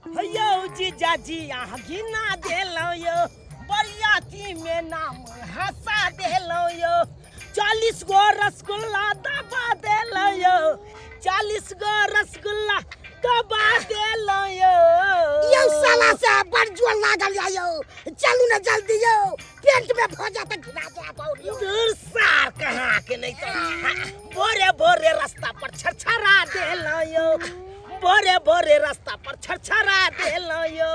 हैयौ जीजाजी अहाँ घिना देलहुँ यौ बरियातीमे नाम हँसा देलहुँ यौ चालीस गो रसगुल्ला दबा देलहुँ यौ चालीस गो रसगुल्ला दबा देलहुँ यौ यौ साला से बड़ जोर लागल यौ चलू ने जल्दी यौ पेट में भो जात घिना जा बौरी दूर सार कहाँ के नहीं तो हाँ, बोरे बोरे रास्ता पर छरछरा देलो यो बोरे बोरे रास्ता पर छरछरा देलो यो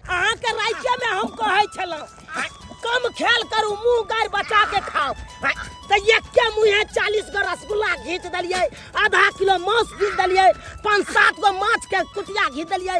अहाँ के राज्य में हम कहै छलहुँ हाँ, कम खेल करू मुंह गार बचा के खाओ हाँ, तो एक के मुँहे चालीस गो रसगुल्ला घींच दिलियै आधा किलो मांस घींच दिलियै पाँच सात गो माछ के कुटिया घींच दिलियै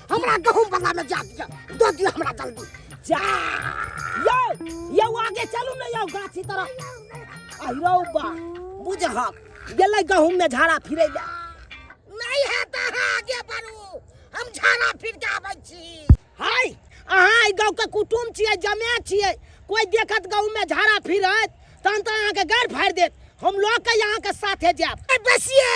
हमरा गहूम बला में जा दिया दो दिया हमरा जल्दी जा यो यो आगे चलू ने यो गाछी तरफ आइरो बा बुझहक गेलै गहूम में झाड़ा फिरै ले नहीं है त अहाँ आगे बढ़ू हम झाड़ा फिर के आबै छी हाय अहाँ एहि गाँव के कुटुम छियै जमे छियै कोई देखत गाँव में झाड़ा फिरत तहन तऽ अहाँके गाड़ फाड़ि देत हम लऽ के अहाँके साथे जायब बेसिए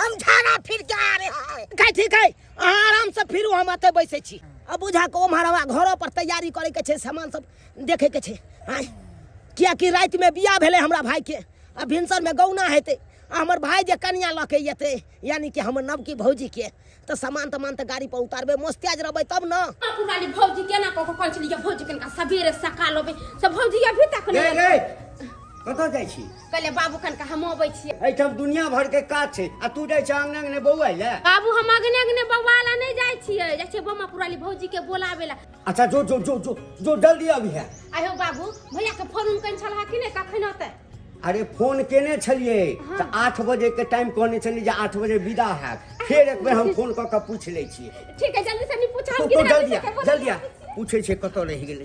हम झाड़ा फिर के आ रहे हैं ठीक है अहाँ आरामसँ फिरू हम एतऽ बैसै छी आ बुझा कऽ ओम्हर हमरा घरो पर तैयारी करैके छै सामान सब देखैके छै आँय किएकि रातिमे बियाह भेलै हमरा भायके आ भिनसरमे गौना हेतै आ हमर भाय जे कनिया लऽ के एतै यानी कि हमर नवकी भौजीके तऽ सामान तमान तऽ गाड़ी पर उतारबै मोस्तियाज रहबै तब ने पुरानी भौजी केना कऽ कऽ कहै छलियै भौजी कनिका सबेरे सकाल अबै से भौजी अभी तक रे नहि रे कतऽ जाइ छी कहले बाबू खन के हम अबै छियै एहिठाम दुनिया भर के काज छै आ तू जाइ छै अंगने अंगने बौआ ले बाबू हम अगने अगने बौआ ला नहि जाइ छियै जाइ छियै बम्मा पुराली भौजी के बोलाबे ला अच्छा जो जो जो जो जो जल्दी अभी है आयो बाबू भैया के फोन उन कन छलहा कि नहि कखन होतै अरे फोन केने छलिए हाँ। तो आठ बजे के टाइम कहने छलिए जे आठ बजे विदा है फिर एक बेर हम फोन कर के पूछ ले छी ठीक है जल्दी से नहीं पूछा हम तो जल्दी जल्दी पूछे छे कत रह गेल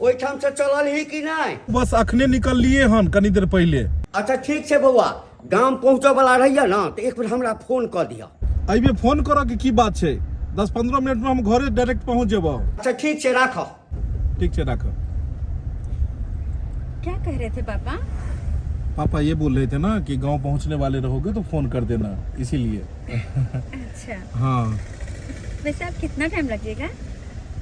ओहिठाम से चलल ही कि नहि बस अखने निकललिए हन कनी देर पहिले अच्छा ठीक छै बौआ गाम पहुँचऽ वाला रहिए ने तऽ एक बेर हमरा फोन कऽ दिअ अइमे फोन करऽ के की बात छै दस पंद्रह मिनट में हम घरे डायरेक्ट पहुंच जेबो अच्छा ठीक छै राखऽ ठीक छै राखऽ क्या कह रहे थे पापा पापा ये बोल रहे थे ना कि गांव पहुंचने वाले रहोगे तो फोन कर देना इसीलिए अच्छा हाँ वैसे आप कितना टाइम लगेगा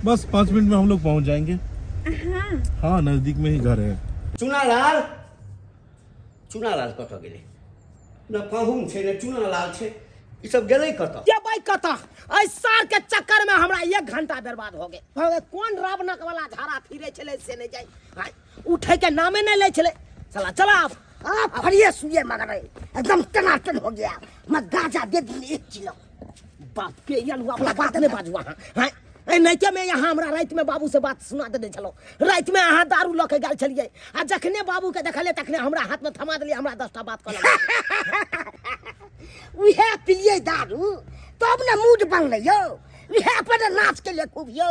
बस पाँच मिनट में हम लोग पहुँच जाएंगे हाँ, हाँ नजदीक में ही घर है चुनालाल चुनालाल कत गए न कहून छे न चुनालाल छे ई सब गए कत के भाई कत एहि सार के चक्कर में हमरा एक घंटा बर्बाद हो गए हो गए कौन रावणक वाला झाड़ा फिरे छले से नहीं जाई हाय उठे के नामे नहीं ले छले चला चला आप आप फरिए सुइए मगर एकदम टनाटन हो गया मैं गाजा दे दी एक किलो बाप के या लुआ वाला बात नहीं बाजू अहाँ हैं ए नैके में यहाँ हमरा रात में बाबू से बात सुना देने छलो रात में अहाँ दारू लऽ के गेल छलिए आ जखने बाबू के देखले तखने हमरा हाथ में थमा देलिए हमरा दसटा बात कहल उहे पिलिए दारू तब ने मूड बनलै यौ उहे पर नाच के लिए खूब यौ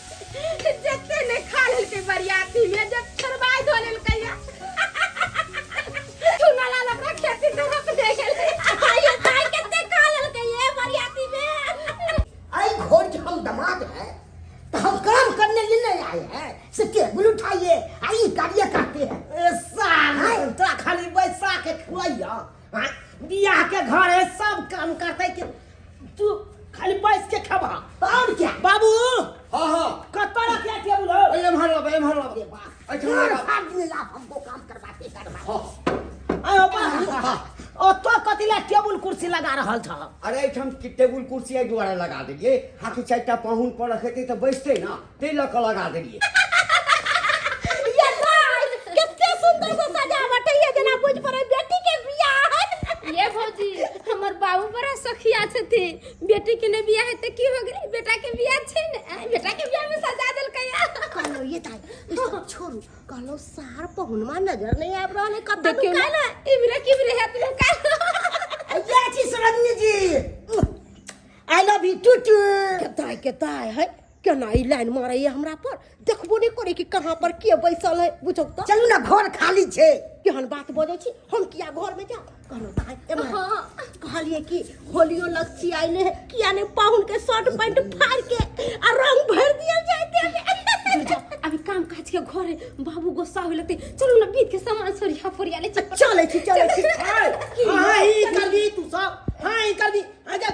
जते ने खा लेलकै बरियाती में जब छोड़बाय धो लेलकै या चूना लाल अपना खेती से रोक दे गेलै आइयो ताई कते खा लेलकै ये बरियाती में आई घोर के हम दमाद है तो हम काम करने लिए नहीं आए हैं से टेबल उठाइए आई गाड़ियाँ काटते हैं ए साल तोरा खाली बैसा के खुआइया हाँ, बियाह के घर है सब काम करते कि तू खाली बैठ के खबा और क्या बाबू हाँ हाँ कत रखिया टेबुल हो अरे एम्हर अब एम्हर अब अरे बाप अच्छा, घर बाबा। फाड़ दिए आप हमको काम करवा के करवा हाँ आयो बाबू ओ तो कतिला टेबुल कुर्सी लगा रहल छ अरे एहिठाम कि टेबुल कुर्सी एहि दुआरे लगा देलियै हाथी चारिटा पाहुन पर रखैतै तऽ बैसतै ने ताहि लऽ कऽ लगा देलियै ये लाल कते सुंदर से सजावट है ये जना बुझ पड़े बेटी के बियाह है ये भौजी हमर बाबू बड़ा सखिया छथि बेटी के ने बियाह है त की हो गेलै बेटा के बियाह छै ने आ, बेटा के बियाह में सजा देलकै या कहलो ये ताई ई सब छोड़ू कहलो सार पहुनमा नजर नहीं आब रहल है कतऽ देखियो लुकायल ना है इमरे किमरे है तुम का अय्या छी सरन्नी जी I love you too too कताय कताय है केना ई लाइन मारैए हमरा पर देखबो नहि करे कि कहाँ पर के बैसल है बुझौ तऽ चलू ने घर खाली छै केहन बात बजै छी हम किया घर में जाब कहलहुँ दाइ एम्हर हाँ कहलिए कि होलियो लक्ष्मी आइले है किया ने पाहुन के शर्ट पैंट फाड़ के आ रंग भर दिया जाए दे जा अभी काम काज के घर है बाबू गुस्सा होय लगते चलू ना बीत के सामान सरिया फरिया ले चल चलै छी चलै छी हाय हाय ई कर दी तू सब हाय ई कर दी आ जा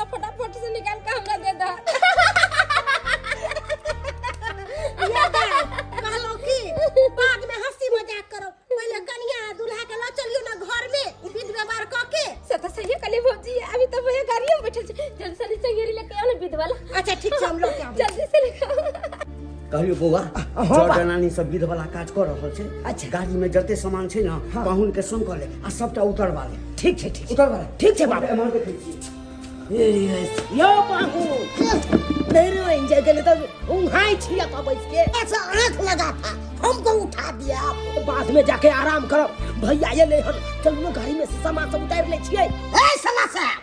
सब फटाफट से निकाल के हमरा दे दा कहलो कि बाद में हंसी मजाक करो पहले कनिया आ दूल्हा के लो चलियो ना घर में विध व्यवहार क के से तो सही कली भौजी अभी तो भैया गाड़ी में बैठल छै जल्दी से नीचे घेरी लेके आओ ना विधवा ला अच्छा ठीक छै हम लोग के आबै छी। जल्दी से लेके आओ कहलियो बौआ हाँ, जर बा। जनानी सब विध वाला काज कर रहल छै अच्छा। गाड़ी में जते सामान छै ना हाँ। पाहुन के संग कर ले आ सबटा उतरवा ले ठीक छै ठीक छै उतरवा ले ठीक छै बाबा एम्हर देखै छी यो बाबू मेरे वहीं जा गले तो उंघाई छिया था बैठ के ऐसा आंख लगा था हमको उठा दिया आपने। बाद में जाके आराम करो भैया ये ले हम चलो गाड़ी में से सामान सब उतार ले छिए ए सला साहब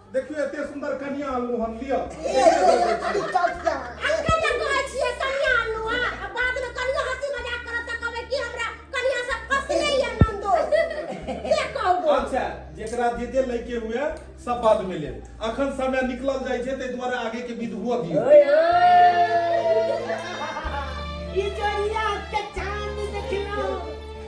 देखियो एते सुंदर कन्या आनलू हम लियो अच्छा जेकरा जे जे लइके हुए सब बाद में ले अखन समय निकलल जाय छै ते द्वारा आगे के विध हुआ दियो ओए ओए ई जोड़िया के चांद देखना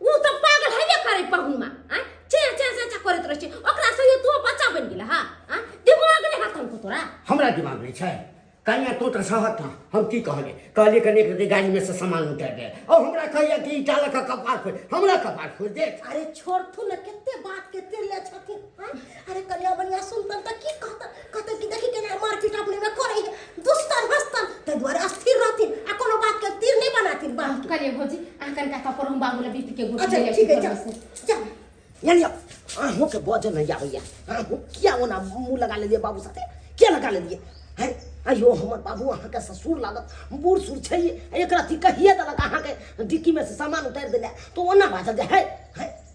ऊ तऽ पागल हेबे करे पहुमा आ चे चे चे चे करैत रहै छै ओकरा सहियो तू बच्चा बनि गेल हा आ दिमाग नहि हाथ हमको तोरा हमरा दिमाग नहीं छै कन्या तू तो सहत ना हम की कहले कहले कने के गाड़ी में से सामान उतार दे और हमरा कहया कि ईटा लगा कपार खोल हमरा कपार खोल दे अरे छोड़ थू ने कते बात कते ले छथिन आ अरे कन्या बनिया सुनतन तऽ की कहतन कहतन कि देखी केना मारपीट अपने में करे है दुस्तन हस्तन ते द्वारा अस्थिर रहथिन आ कोनो बात के तीर नहीं बनाथिन बांध के कलिए भौजी अहाँ कनिका कपड़ हम बाबू लए बीत के गुड़ अच्छा ले ठीक है जा जा यानी अहूँ के बजे नहीं आबैया अहूँ किया ओना मुँह लगा लेलिए बाबू साथे किया लगा लेलिए हैं अयो हमर बाबू अहाँ के ससुर लागत बूढ़ सूढ़ छै एकरा थी कहिए देलक अहाँ के डिक्की में से सामान उतार देले तो ओना बाजल जे है हैं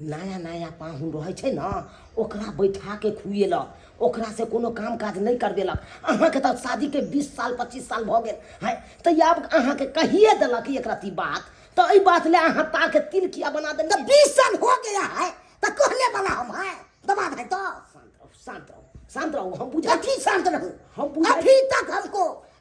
नया नया पाहुन रहै छै ने ओकरा बैठा के खुएलक ओकरा से कोनो काम काज नहि करबेलक अहाँके तऽ शादीके बीस साल पच्चीस साल भऽ गेल है तऽ आब अहाँके कहिए देलक एक रत्ती बात तो एहि बात ले अहाँ ताके तिल किया बना देलियै तो बीस साल हो गया है तो कहने वाला हम है दबा है तो शांत रहो शांत रहो शांत रहो हम बुझा अभी शांत रहो हम बुझा अभी तक हमको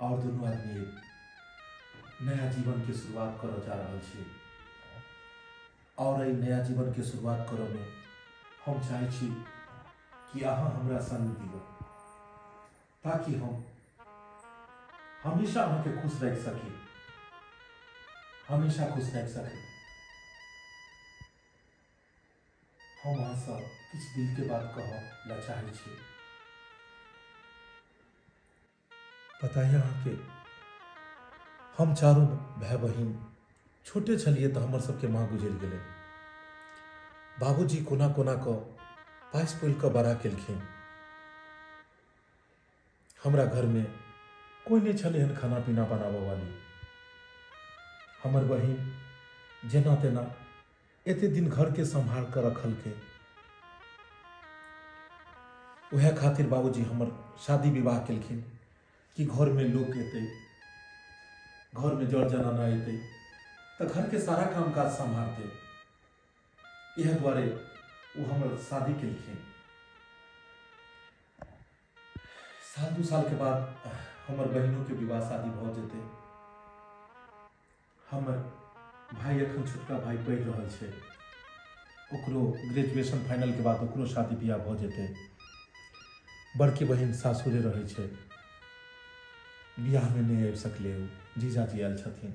और दोनों आदमी नया जीवन के शुरुआत करऽ जा रहल छी और एहि नया जीवन के शुरुआत करऽ में हम चाहे छी कि अहाँ हमरा संग दिअ ताकि हम हमेशा अहाँके खुश रख सकी हमेशा खुश रख सकी हम अहाँ सब किछु दिल के बात कहऽ ला चाहै छी पता है अहाँके हम चारू भाय बहिन छोटे छलियै तऽ हमर सबके माँ गुजरि गेलै बाबूजी कोना कोना कऽ पासि पोलि कऽ बड़ा केलखिन हमरा घर में कोई नहीं छले हन खाना पीना बनाबऽ वाली हमर बहिन जेना तेना एते दिन घर के संभाल कर रखल के वह खातिर बाबूजी हमर शादी विवाह केलखिन कि घर में लोग एते घर में जड़ जनाना एते तऽ घर के सारा काम काज संभालते इहे दुआरे ओ हमर शादी केलखिन साल दू साल के बाद हमर बहिनों के विवाह शादी भऽ जेतै हमर भाई एखन छोटका भाई पढ़ि रहल छै ओकरो ग्रेजुएशन फाइनल के बाद ओकरो शादी बियाह भऽ जेतै बड़की बहिन सासुरे रहै छै बियाहमे नहि आबि सकलै ओ जीजाजी आयल छथिन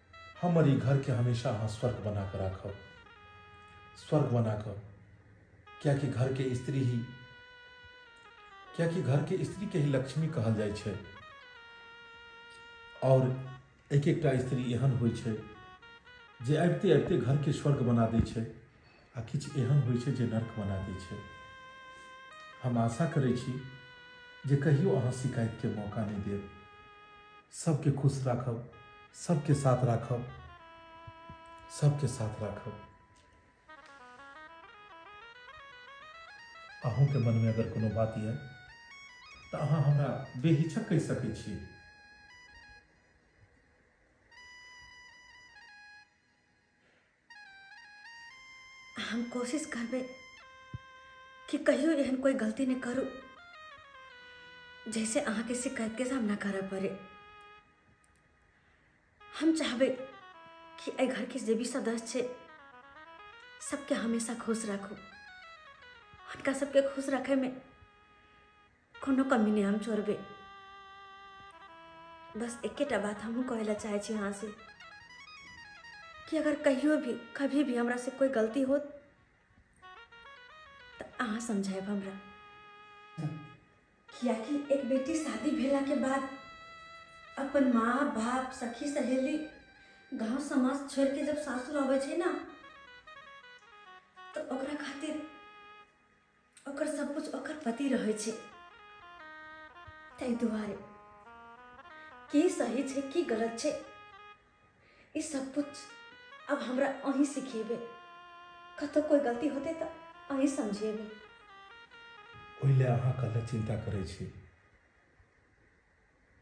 हमर ई घरके हमेशा अहाँ स्वर्ग बना कऽ राखब स्वर्ग बना कऽ कियाकि घरके स्त्री ही कियाकि घरके स्त्रीके ही लक्ष्मी कहल जाइ छै आओर एक एकटा स्त्री एहन होइ छै जे अबिते अबिते घरके स्वर्ग बना दै छै आ किछु एहन होइ छै जे नर्क बना दै छै हम आशा करै छी जे कहियो अहाँ शिकायतके मौका नहि देब सबके खुश राखब सबके साथ राखब सबके साथ राखब अहूँके मनमे अगर कोनो बात यऽ तऽ अहाँ हमरा बेहिचक कहि सकै छी हम कोशिश करबे कि कहियो एहन कोई गलती नहीं करू जैसे अहाँ के शिकायत के सामना करऽ पड़े हम चाहबे कि एहि घर के जे भी सदस्य छै सबके हमेशा खुश राखू हुनका सबके खुश रखैमे कोनो कमी नहि हम छोड़बै बस एकेटा बात हमहूँ कहै लए चाहै छी अहाँसँ कि अगर कहियो भी कभी भी हमरा से कोई गलती होत तऽ अहाँ समझायब हमरा कियाकि एक बेटी शादी भेला के बाद अपन माँ बाप सखी सहेली गांव समाज छोड़ के जब सासुर आबै छै ना तऽ ओकरा खातिर ओकर सब कुछ ओकर पति रहै छै ताहि दुआरे की सही छै की गलत छै ई सब कुछ अब हमरा अहीं सिखेबै कतौ कोई गलती होते तऽ अहीं समझेबै ओहि लए अहाँ कतऽ चिन्ता करै छी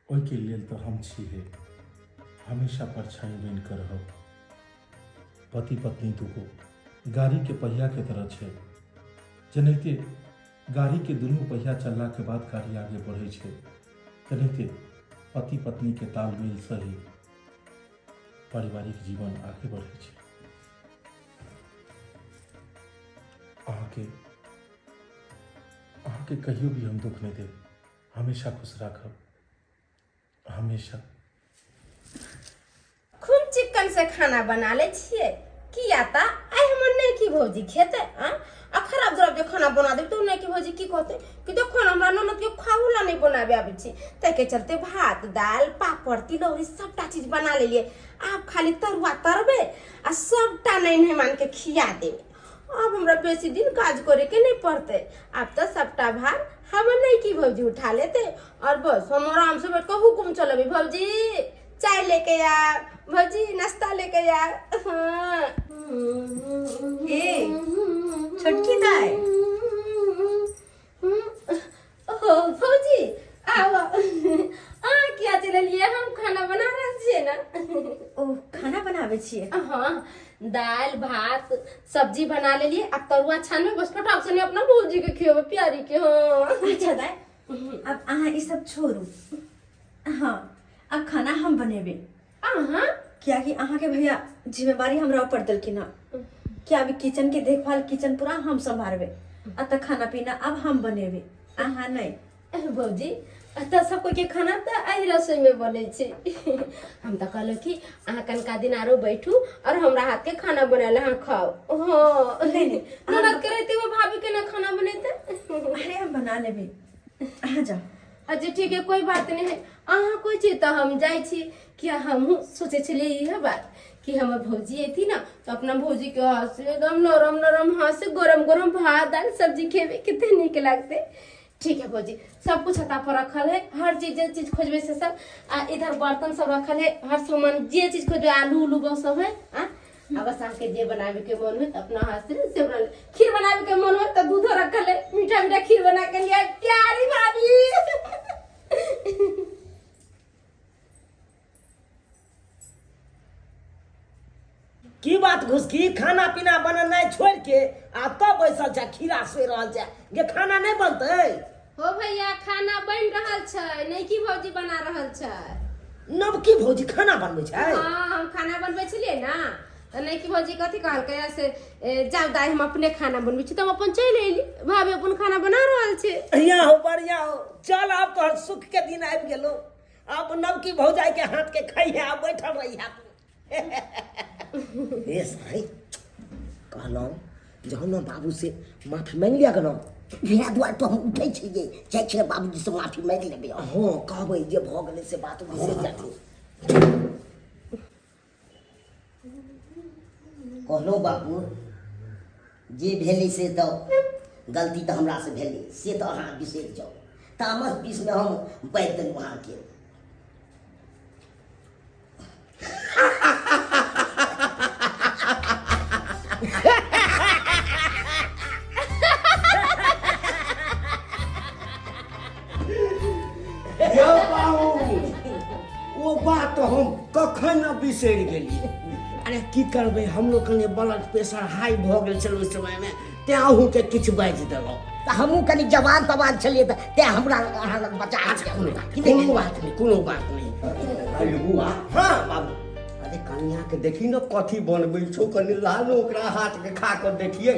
ओहिके लेल तऽ हम छी हे हमेशा परछाई बनि कऽ रहब पति पत्नी दूगो गाड़ीके पहियाके तरह छै जेनाहिते गाड़ीके दुनू पहिया चललाके बाद गाड़ी आगे बढ़ै छै तेनाहिते पति पत्नीके तालमेल सही पारिवारिक जीवन आगे बढ़ै छै अहाँके अहाँके कहियो भी हम दुख नहि देब हमेशा खुश राखब हमेशा खूब चिकन से खाना बना ले छिए किया ता आइ हमर नहीं की भौजी खेते आ आ खराब जराब जे खाना बना देब तो नहीं की भौजी की कहते कि देखो ना हमरा ननद के खाहू ला नहीं बनाबे आबे छी ते के चलते भात दाल पापड़ तिलौरी सबटा चीज बना लेलिए आप खाली तरुआ तरबे आ सबटा नहीं नहीं मान के खिया देबे अब हमरा बेसी दिन काज करे के नहीं पड़ते अब तो सबटा भार हम नहीं की भौजी उठा लेते और बस हम आराम से बैठ कर हुकुम चलो भौजी चाय लेके आ भौजी नाश्ता लेके आ हाँ। छोटकी दाई ओहो भौजी आब अहाँ किया चलि एलियै हम खाना बना रहल छियै ने ओ खाना बनाबै छियै हाँ दाल भात सब्जी बना लेलिए आ तरुआ छान में बस फटाक से अपना भौजी के खियो प्यारी के हाँ अच्छा दाय अब अहाँ ई सब छोड़ू हाँ अब खाना हम बनेबे अहाँ कियाकि अहाँके भैया जिम्मेवारी हमरा ऊपर देलखिन हँ कि अभी किचन के देखभाल किचन पूरा हम सम्हारबे आ तऽ खाना पीना अब हम बनेबे अहाँ नहि अरे भौजी एतऽ सब कोई के खाना तऽ एहि रसोई में बनै छै हम तऽ कहलहुँ कि अहाँ कनका दिन आरो बैठू और हमरा हाथ के खाना बनायल अहाँ खाओ हाँ नहीं, नहीं, ननद के रहते हुए भाभी के ना खाना बनेते अरे हम बना लेबे अहाँ जाओ अच्छा ठीक है कोई बात नहीं है अहाँ कोई चीज तो हम जाए छी कि हम सोचे छलिए यह बात कि हमर भौजी एती ना तो अपना भौजी के हाथ से एकदम नरम नरम हाथ से गरम गरम भात दाल सब्जी खेबे कितने नीक लगते ठीक है भौजी सब कुछ हता पर रखल है हर चीज जे चीज खोजबे से सब आ इधर बर्तन सब रखल है हर सामान जे चीज खोजबे आलू उलू बस सब है आ अब सास के जे बनावे के मन हो अपना हाथ से से बना ले। खीर बनावे के मन हो तो दूध रख ले मीठा मीठा खीर बना के लिए प्यारी भाभी की बात घुस की खाना पीना बननाइ छोड़ के आ तब बैसल जा खीरा सोइ रहल जा जे खाना नहीं बनतै हो भैया खाना बन रहल छै नहीं की भौजी बना रहल छै नवकी भौजी खाना बनबै छै हाँ हम खाना बनबै छलिए ना तो नहीं की भौजी कथी कहलकै से जाओ दाई हम अपने खाना बनबै छी तो हम अपन चल एली भाभी अपन खाना बना रहल छै बढ़िया हो बढ़िया हो चल आप तो सुख के दिन आबि गेलो आप नवकी भौजाई के हाथ के खाई है आप बैठल रही है हे साई कहलहुँ जे हम ने बाबूसँ माफी माँगि लिअ गेलहुँ इएह दुआरे तो हम उठै छी जे जाइ छियै बाबूजीसँ माफी माँगि लेबै हँ कहबै जे भऽ गेलै से बात बिसरि जाथिन कहलहुँ बाबू जे भेलै से तऽ गलती तऽ हमरासँ भेलै से तऽ अहाँ बिसरि जाउ तामस बीसमे हम बाजि देलहुँ अहाँके यौ बाबू ओ बात तो हम कखन न बिसरि गेलियै अरे की करबै हमरो कने ब्लड प्रेशर हाई भऽ गेल छल ओहि समयमे तेँ अहूँके किछु बाजि देलहुँ तऽ हमहूँ कनि जवान तवान छलियै तऽ तेँ हमरा अहाँ लग बचा अच्छा कोनो बात कोनो बात नहि कोनो बात नहि अरे बुआ हाँ बाबू अरे कनियाँके देखी ने कथी बनबै छौ कनि लालो ओकरा हाथके खा कऽ देखियै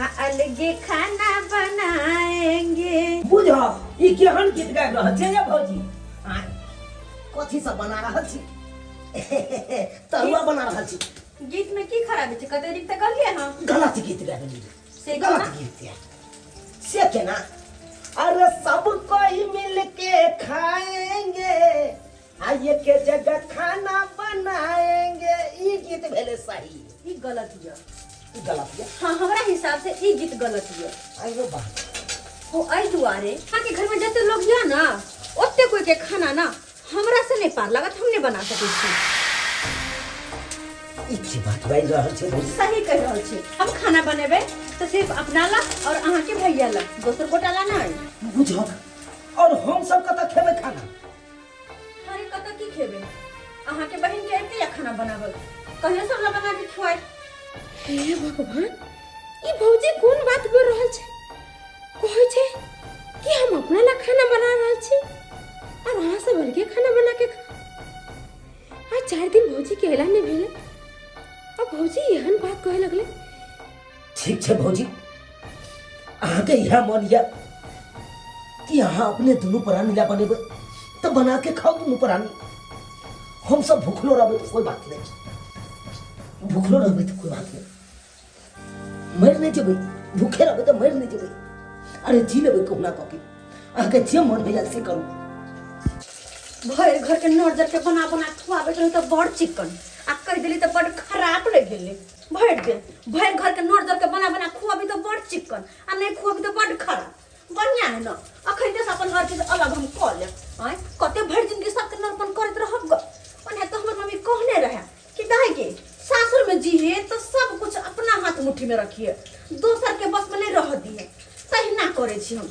आ अलगे खाना बनाएंगे बुझो ई केहन गीत गाबि रहल छै ये भौजी आ कथी सब बना रहल छी तरुआ बना रहल छी गीत में की खराबी छै कते नीक तऽ कहलियै हँ गलत गीत गाबि ली से गलत केना? गीत है से केना अरे सब कोई मिलके खाएंगे आइए के जगह खाना बनाएंगे ई गीत भेले सही ई गलत ये ई गलत ये हाँ हमरा हिसाब से ई गीत गलत ये आइयो बा हो अई दुआरे यहाँ के घर में जते लोग या ना ओते कोई के खाना ना हमरा से नहीं पार लागत हम नहीं बना सके छी ई की बात बाई रहल छै भौजी सही कह रहल छी हम खाना बनेबे तो सिर्फ अपना ला और अहाँ के भैया ला दोसर गोटा ला नहीं बुझक और हम सब कतऽ खेबै खाना अरे कत की खेबे अहाँ के बहन के एते खाना बनावल कहियो सब ला बना के खिवाए हे भगवान ई भौजी कोन बात बोल रहल छै कहै छै कि हम अपना ला खाना बना रहल छी और अहाँ सब अलगे खाना बना के खा आ चार दिन भौजी के अयला नहि भेलै आ भौजी एहन बात कहै लगलै ठीक छै भौजी अहाँके इएह मन यऽ कि अहाँ अपने दुनू प्राणी लए बनेबै तऽ बना के खाओ दुनू प्राणी हम सब भूखलो रहबै तऽ कोई बात नहीं छै भूखलो रहबै तऽ कोई बात नहीं मरि नहीं जेबै भूखे रहबै तऽ मरि नहीं जेबै अरे जी लेबै कहुना कऽ के अहाँके जे मन होइए से करू भरि घरके नर्जरके बना बना खुआबैत रहै तऽ बड़ चिक्कन आ कहि देली तऽ बड़ खराब लागि गेलै भरि दिन भरि घरके नोर दरके बना बना खुअबी तऽ बड़ चिक्कन आ नहि खुअबी तऽ बड्ड खराब बढ़िआँ है ने अखैते से अपन हर चीज अलग हम कऽ लेब आँय कते भरि जिनगी सबके नरपन करैत रहब ग ओने तऽ हमर मम्मी कहने रहए कि दाइगे सासुरमे जीहे तऽ सब कुछ अपना हाथ मुट्ठीमे रखिहे दोसरके बसमे नहि रहऽ दिहे तहिना करै छी हम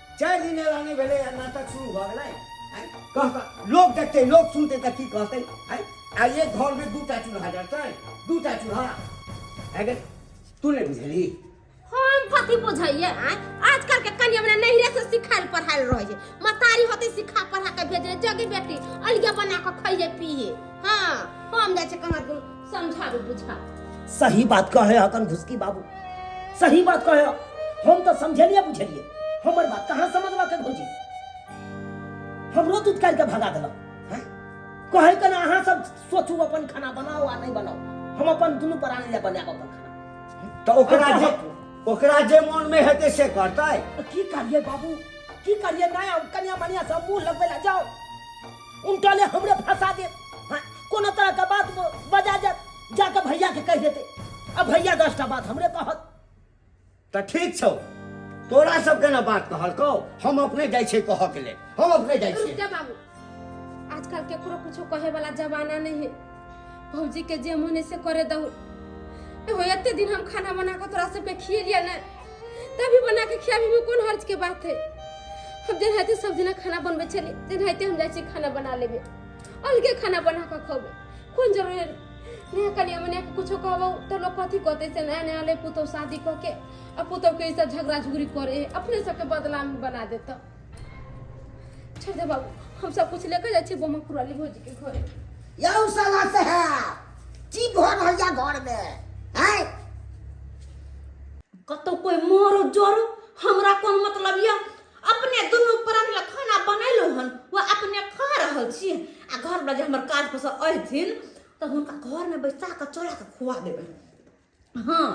चारि दिन एला नहि भेलै आ नाटक शुरू भऽ गेलै आँय? कहता लोक देखतै लोक सुनतै तऽ की कहतै आँय? आ एक घरमे दू टा चूल्हा जरतै दू टा चूल्हा भए गेल तू नहि बुझली हम कथी बुझैया आँय? आजकल के कनिया हमरा नहिरे से सिखायल पढ़ायल रहे छै मतारी होते सिखा पढ़ा के भेजे जगे बेटी अलगे बना के खइए पिए हाँ हम जाइ छै कहाँ दूर समझाबू बुझा सही बात कहे हकन घुसकी बाबू सही बात कहे ह। हम तो समझलिए बुझलिए हमर बात कहाँ समझवा के भौजी हमरो दूध काट के भगा देलक हैं? कहे के ना अहाँ सब सोचू अपन खाना बनाओ आ नहीं बनाओ हम अपन दुनू प्राणी ले बनाब अपन खाना तो ओकरा अच्छा, जे ओकरा जे मन में हेतै से करतै की करिए बाबू की करिए ना कनिया मनिया सब मुंह लगबे ला जाओ उनका ले हमरे फंसा दे हाँ, कोनो तरह का बात वो बजा जा जाके भैया के कह देते अब भैया दस टा बात हमरे कहत तो ठीक छौ तोरा सबके ना बात कहल को हम अपने जाइ छै कह के ले हम अपने जाइ रुक छै जा बाबू आजकल केकरो कुछो कहे वाला जमाना नहीं है भौजी के जे मन है से करे दहु एहो एते दिन हम खाना बना के तोरा सबके खिए लिया ना तभी बना के खियाबी में कोन हर्ज के बात है हम दिन हाथे सब दिना खाना बनबे चले दिन हाथे हम जाए खाना बना लेबे अलगे खाना बना के खोबे कोन जरूरी है नया कनिया मनिया के कुछो कहबो तो लोग कथी कहते से नया नया ले पुतौ शादी कऽ के आ पुतौ के ई सब झगड़ा झुगड़ी करे है अपने सबके बदनाम बना देता छोड़ दे बाबू हम सब कुछ लेकर जाए बम पुराली भौजी के घर यौ साला से है की भर भैया घर में है कतो कोई मोरो जोरो हमरा कोन मतलब या अपने दुनु प्राण ला खाना बनैलो हन वो अपने खा रहल छी आ घर में जे हमर काज पस अइथिन त हुनका घर में बैसा के चोरा के खुआ देबे हाँ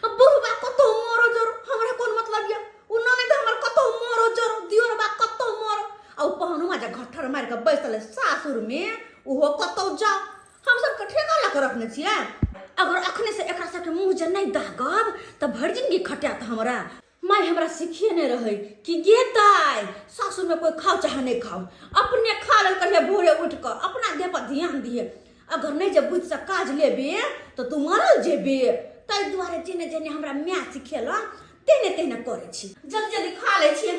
अब बुढ़वा कतो मरो जरो हमरा कौन मतलब या उ ननद हमर कतो मरो जरो दियोरबा कतो मरो आ उ पहनुमा जे घठर मार के बैसल है सासुर में उहो कतो जा हम सब के ठेका ला के रखने छिए अगर अखने से एकरा सब के मुंह जे नहीं दागब त भर जिंदगी खटात हमरा माय हमरा सिखेने रहै कि गे दाइ सासुरमे कोइ खाओ चाहे नहि खाओ अपने खा लेल कहिए भोरे उठि कऽ अपना देहपर ध्यान दिए अगर नहि जे बुद्धिसँ काज लेबे तऽ तू मरल जेबे ताहि दुआरे जेने जेने हमरा माय सिखेलक तेहने तेहने करै छी जल्दी जल्दी खा लै छियै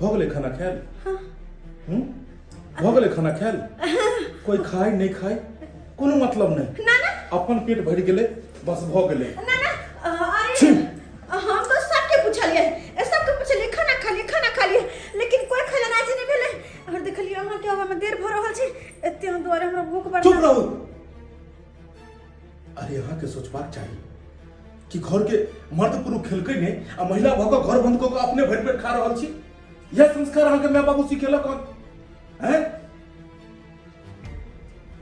भऽ गेलै खाना खायल हूँ? भऽ गेलै खाना खायल कोई खाय नहीं खाय कोनो मतलब नहीं ना ना अपन पेट भरि गेलै बस भऽ गेलै ना ना अ, अरे छी। हम तो सबके पूछलिए ए, सबके पूछलिए खाना खा लिए खाना खा लिए लेकिन कोई खाना ना जी नहीं भेले और देखलिए अहाँ के आवा में देर भऽ रहल छै एते हम दुआरे हमरा भूख बढ़ चुप रहू अरे यहाँ के सोचबाक चाहिए कि घर के मर्द पुरुष खेलके ने आ महिला भऽ कऽ घर बंद कऽ कऽ अपने भरि पेट खा रहल छी यह संस्कार अहाँके माय बाबू सिखेलक हन हैं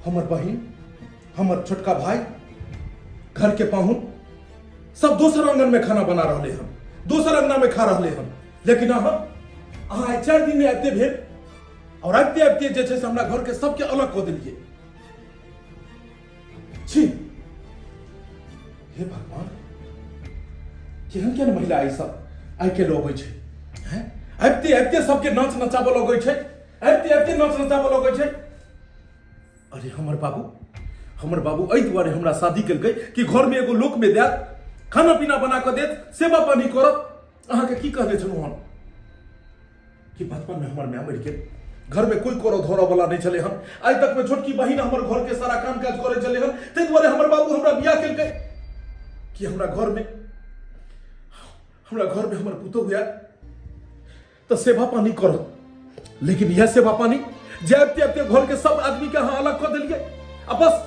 हमर बहिन हमर छोटका भाई घर के पाहुन सब दोसर आंगन में खाना बना रहले हन दोसर अंगना में खा रहले हन लेकिन अहाँ अहाँ आइ चारि दिन में आबिते भेल और आबिते आबिते जे छै से हमरा घर के सबके अलग कऽ देलियै छी हे भगवान केहन केहन महिला ई सब आइ काल्हि अबै छै हैं? आबिते आबिते सबके नाच नचाबऽ लगै छै आबिते आबिते नाच नचाबऽ लगै छै अरे हमर बाबू हमर बाबू एहि दुआरे हमरा शादी केलकै कि घरमे एगो लोक में देत खाना पीना बना कऽ देत सेवा पानी करत अहाँके की कहने छलहुँ हम कि बचपन में हमर माय मरि गेल घर में कोई करऽ धरऽ वाला नहीं छले हन आइ तक में छोटकी बहिन हमर घर के सारा काम काज करे चले हन ताहि दुआरे हमर बाबू हमरा बियाह केलकै कि हमरा घर में हमरा घर में हमर पुतहु हुआ तो सेवा पानी करो लेकिन यह सेवा पानी जैब तैब के घर के सब आदमी के अहाँ अलग कर दिलिए आ बस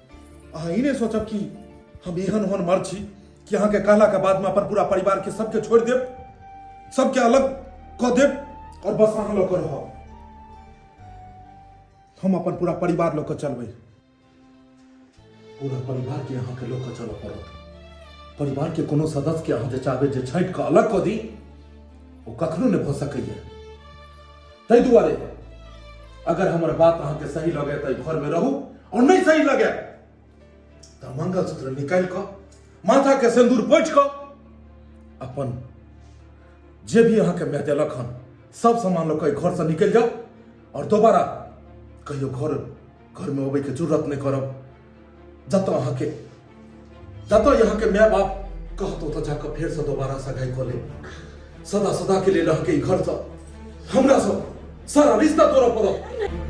अहाँ ई नहि सोचब कि हम एहन ओहन मर्द छी कि अहाँके कहलाके बादमे अपन पूरा परिवारके सबके छोड़ि देब सबके अलग कऽ देब आओर बस अहाँ लऽ कऽ रहब हम अपन पूरा परिवार लऽ कऽ चलबै पूरा परिवारके अहाँके लऽ कऽ चलऽ पड़त परिवारके कोनो सदस्यके अहाँ जे चाहबै जे छाँटि कऽ अलग कऽ दी ओ कखनो नहि भऽ सकैए ताहि दुआरे अगर हमर बात अहाँके सही लगे तऽ घर में रहू और नहीं सही लगे तऽ मंगलसूत्र निकाल कऽ माथा के सिंदूर पोछ कऽ अपन जे भी अहाँके मैं देलक हन सब सामान लऽ कऽ घर से निकल जाओ और दोबारा कहियो घर घर में अबे के जरूरत नहीं करब जतऽ अहाँके जतऽ यहाँके माय बाप कहतो तऽ जाकऽ फेरसँ दोबारा सगाइ कऽ लेब सदा सदा के लेल अहाँके ई घरसँ हमरा सब सारा रिश्ता तोड़ऽ पड़त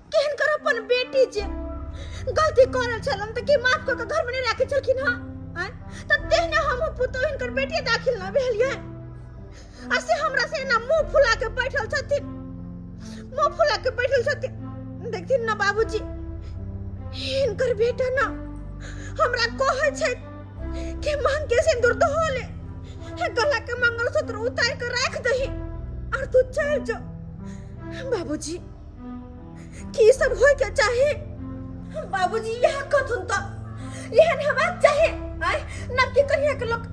केहन कर अपन बेटी जे गलती करल छल हम तऽ की माफ कऽ के घर में नहीं राखे छलखिन हँ आँय? तऽ तेहने हम पुतोह हिनकर बेटी दाखिल न भेलियै आ से हमरा से एना मुंह फुला के बैठल छथिन मुंह फुला के बैठल छथिन देखथिन ना बाबूजी हिनकर बेटा ना हमरा कहै छै कि मांग के सिंदूर तो होले हे गला के मंगलसूत्र उतार के राख दही और तू चल जो बाबूजी की सब होय के चाहे बाबूजी यह कथुन तो यह हमार चाहे आय ना की कहिया के लोग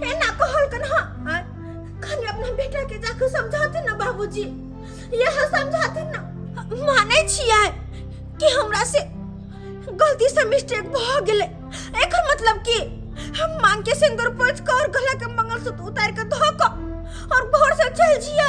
ए ना कहल कन हा आय खाली अपना बेटा के जाके समझाते ना बाबूजी यह समझाते ना माने छियै कि हमरा से गलती से मिस्टेक भ गेले एकर मतलब की हम मांग के सिंदूर पोछ कर गला के मंगलसूत्र उतार के धो क और घर से चल जिया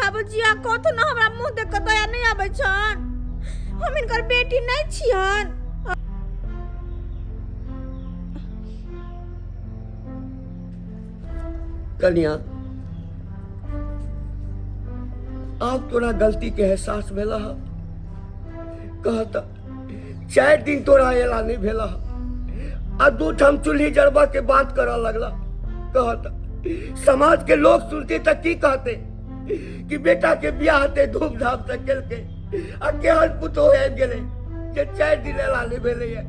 बाबूजी आ कथु न हमरा मुंह देख के दया नहीं आबै छन हम इनकर बेटी नहीं छियन कन्या आप तोरा गलती के एहसास भेला ह कहता चारि दिन तोरा एला नहीं भेला आ दू ठाम चूल्ही जड़बा के बात करऽ लगला कहता समाज के लोग सुनते त की कहते कि बेटा के बियाह ते धूमधाम से केलके आ केहन पुतो आबि गेले जे चारि दिन एला नहीं भेले ये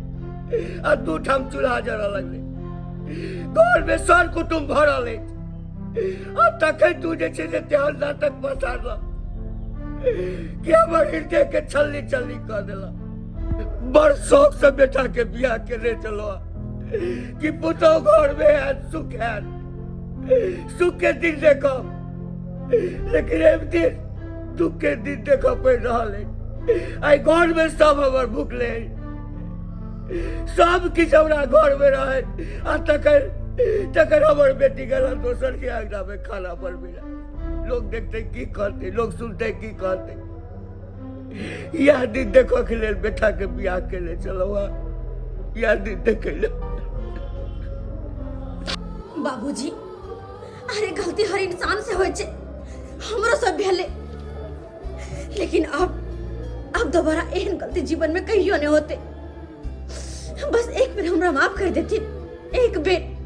आ दू ठाम चूल्हा जड़ऽ लगले घर में सर कुटुम भरल अछि आ तखन तू जे छै से तेहन नाटक पसारला कि हमर हृदय के छल्ली छल्ली कऽ देला बड़ शौक से बेटा के बियाह केने चलो कि पुतौ घर में है सुख है सुख के दिन देखो लेकिन एक दिन दुख के दिन देखो पड़ रहा है आई घर में सब हमर भूखले है सब किछु हमरा घर में रहे आ तकर तकर हमर बेटी गला दोसर के अंगना में खाना बनबे रहे लोग देखते की कहते लोग सुनते की कहते यह दिन देखो के लेल बेटा के बियाह के ले चलो यह दिन देखे ले बाबूजी अरे गलती हर इंसान से होय छै हमरो सब भेले लेकिन अब अब दोबारा एहन गलती जीवन में कहियो नहीं होते बस एक बेर हमरा माफ कर देती एक बेर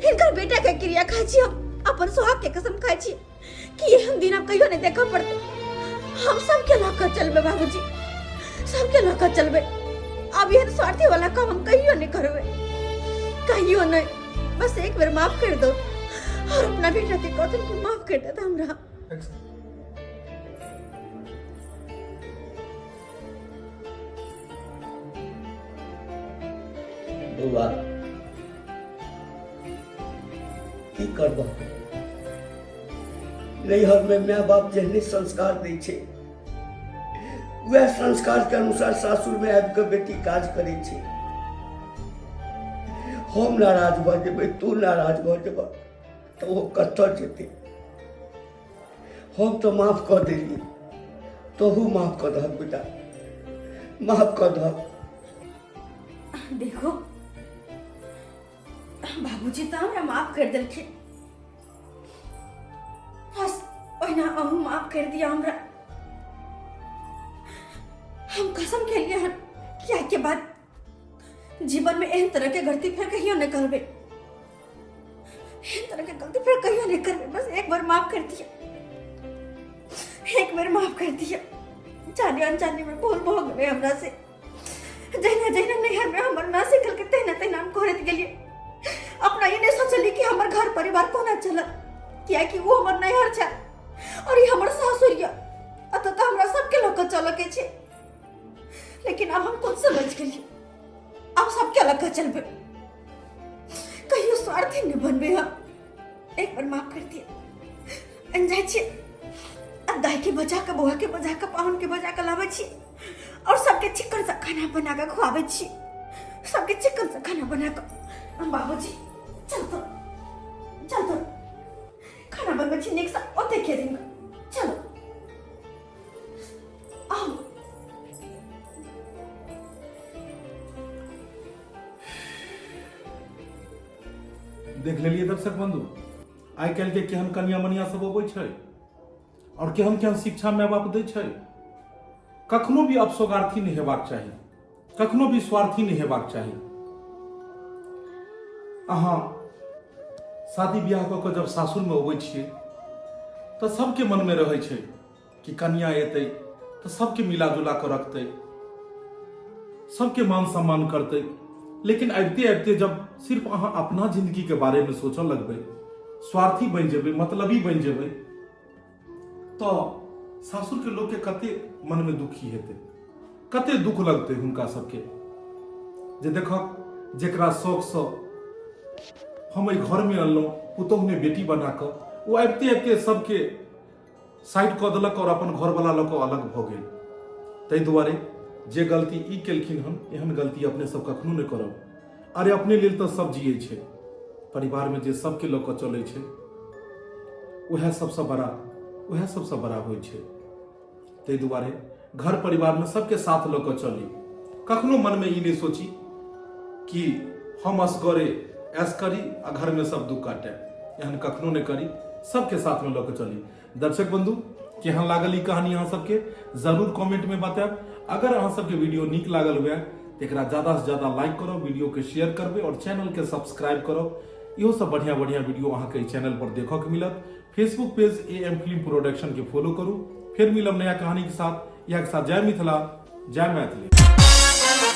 इनकर बेटा के क्रिया खाई छी हम अपन सुहाग के कसम खाई छी कि ये हम दिन आप कहियो नहीं देखा पड़ते हम सबके लौका चलबे बाबूजी सबके लौका चलबे अब ये स्वार्थी वाला काम हम कहियो नहीं करबे कहियो नहीं बस एक बेर माफ कर दो और अपना बेटा के कौतन को माफ कर देता हमरा बौआ की करबह नैहरमे माय बाप जेहने संस्कार दै छै वएह संस्कारके अनुसार सासुरमे आबि कऽ बेटी काज करै छै हम नाराज भऽ जेबै तू नाराज भऽ जेबह तऽ ओ कतऽ जेतै हम तऽ माफ कऽ देली तोहू माफ कऽ दहक बेटा माफ कऽ दहक देखो बाबूजी तऽ हमरा माफ कर देलखिन बस ओहिना अहूँ माफ कर दिया हमरा हम कसम खेलिए हन कि आइ के बाद जीवन में एहन तरह के गलती फिर कहियो नहीं करबे एहन तरह के गलती फिर कहियो नहीं करबे बस एक बार माफ कर दिया एक बार माफ कर दिया जाने अनजाने में भूल भो गए हमरा से जहिना जहिना नैहर में हमर ना सीखल के तहिना तहिना हम करत गेलिए अपना ये नहीं सोचली कि हमर घर परिवार कोना चलल किया कि वो हमर नैहर छै और ये हमर सासुर ये अतः हमरा सबके लोग चलके छै लेकिन अब हम खुद समझ गई अब सब क्या लगा चल पे कहियो स्वार्थी न बन बे हम एक बार माफ कर दिए अनजाय छी अब दाई के बजा के बौआ के बजा के पाहुन के बजा के लावे छी और सबके चिकन सा खाना बना के खुआवे छी सबके चिकन सा खाना बना के हम बाबूजी चल तो चल तो खाना बनबै छी नीक सा ओते खेलिंग चलो देख लेलिए दर्शक बंधु आई कल के केहन कनिया मनिया सब अबै छै और केहन केहन शिक्षा माय बाप दै छै कखनो भी अपसोगार्थी नहि हेबाक चाही कखनो भी स्वार्थी नहि हेबाक चाही अहाँ शादी ब्याह कऽ कऽ जब सासुरमे अबै छियै तऽ सभके मनमे रहै छै कि कनिया एतै तऽ सभके मिला जुला कऽ रखतै सभके मान सम्मान करतै लेकिन अबिते अबिते जब सिर्फ अहाँ अपना जिंदगीके बारेमे सोचऽ लगबै स्वार्थी बनि जेबै मतलबी बनि जेबै तो सासुर के लोग के कते मन में दुखी हेते कते दुख लगते हुनका सबके जे देखक जेकरा शौक से हम एहि घर में अनलहुँ पुतोह ने बेटी बना कऽ ओ आबिते आबिते सबके साइड कऽ देलक और अपन घर वाला लऽ कऽ अलग भऽ गेल ताहि दुआरे जे गलती ई केलखिन हन एहन गलती अपने सब कखनो नहि करब अरे अपने लेल तऽ सब जियै छै परिवारमे जे सबके लऽ कऽ चलै छै उएह सबसँ बड़ा उएह सबसँ बड़ा होइ छै ताहि दुआरे घर परिवारमे सबके साथ लऽ कऽ चली कखनो मनमे ई नहि सोची कि हम असगरे ऐस करी आ घरमे सब दुख काटे एहन कखनो नहि करी सबके साथमे लऽ कऽ चली दर्शक बंधु केहन लागल ई कहानी अहाँ सबके जरूर कमेंट में बतायब अगर अहाँ सबके वीडियो नीक लागल हुए तो एक ज्यादा से ज्यादा लाइक करो वीडियो के शेयर करबे और चैनल के सब्सक्राइब करो इहो सब बढ़िया बढ़िया वीडियो अहाँ के चैनल पर देखो के मिलत Facebook page A M film production के फॉलो करू फिर मिलब नया कहानी के साथ यह के साथ जय मिथिला जय मैथिली